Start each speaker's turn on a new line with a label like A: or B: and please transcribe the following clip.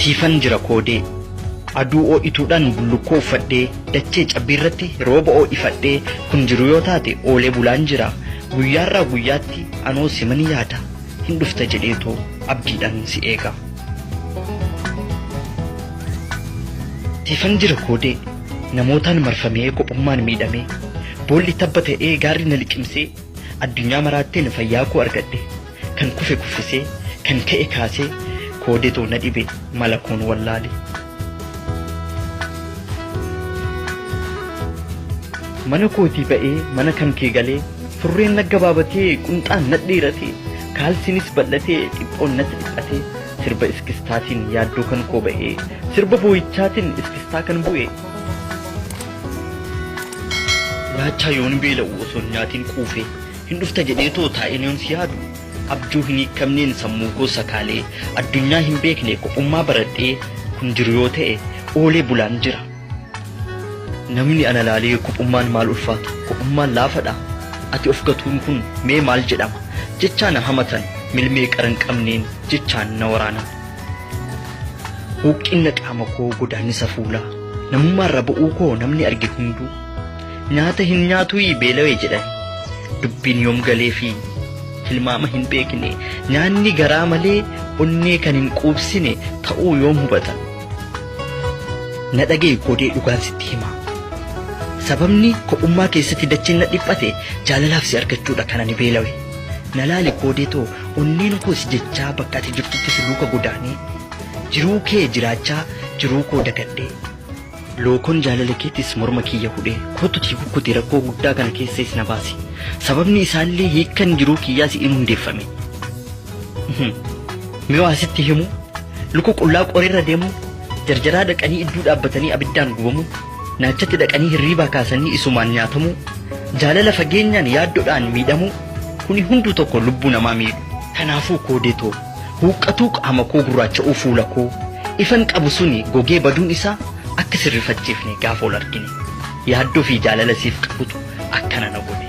A: siifan jira koodee aduu oo'ituudhaan bullukkoo uffadhee dachee cabbiirratti rooba oo'ifadhee kun jiru yoo taate oolee bulaan jira guyyaarraa guyyaatti anoo siman yaada hin dhufta jedheetoo abdiidhaan si eega. siifan jira koodee Namootaan marfamee kophummaan miidhamee Boolli tabba ta'ee gaarri na liqimsee Addunyaa maraatteen fayyaa koo argadhe Kan kufe kuffisee kan ka'e kaasee Koodetu na dhibe mala koon wallaale Mana kootii ba'ee mana kan kee galee Surreen naggabaabatee qunxaan nadheeratee Kaalsiinis bal'atee dhiphoon natti dhiphatee Sirba iskistaatiin yaaddoo kan koo ba'ee. Sirba boo'ichaatiin iskistaa kan bu'e. Raachaa yoon beela'u osoo hin nyaatiin quufee. Hin dhufta jedhee too taa'een yoon si yaadu. Abjuu hin hiikkamneen sammuu koo sakaalee. Addunyaa hin beekne kophummaa baradhee. Kun jiru yoo ta'e oolee bulaan jira. Namni ana laalee kophummaan maal ulfaata, kophummaan laafadha, ati of gatuun kun mee maal jedhama jechaa na hamatan, milmee qara hin qabneen jechaan na waraanan. Hooqqinna qaama koo godaannisa fuulaa, namummaarra ba'uu koo namni arge hunduu, nyaata hin nyaatuuyii beelawe jedhani. Dubbiin yoom galeefi tilmaama hin beekne, nyaanni garaa malee onnee kan hin quubsine ta'uu yoom hubatan. Na dhaga'i koodee dhugaan sitti hima. Sababni kophummaa keessatti dachiin na dhiphate jaalalaaf si argachuudha kan ani beelawe. Na laali koodee too onneen koo si jechaa bakka ati jirtutti si luuka godaanee. Jiruu kee jiraachaa jiruu koo dagadhee. Lookoon jaalala keetis morma kiyya hudhee kootutii kukkuti rakkoo guddaa kana keessaas na baasi. Sababni isaallee hiikkan jiruu kiyyaas in hundeeffame. Mee waa sitti himu luka qullaa qoreerra deemuun jarjaraa dhaqanii idduu dhaabbatanii abiddaan gubamuun naachatti dhaqanii hirriibaa kaasanii isumaan nyaatamuu jaalala fageenyaan yaaddodhaan miidhamuu kuni hunduu tokko lubbuu namaa miidhu. Kanaafuu koodee too huuqqatuu qaama koo gurraacha'uu fuula koo ifan qabu suni gogee baduun isaa akka sirrifachiifne gaafa wal argine yaaddoo fi jaalala siif qabutu akkana na godhe.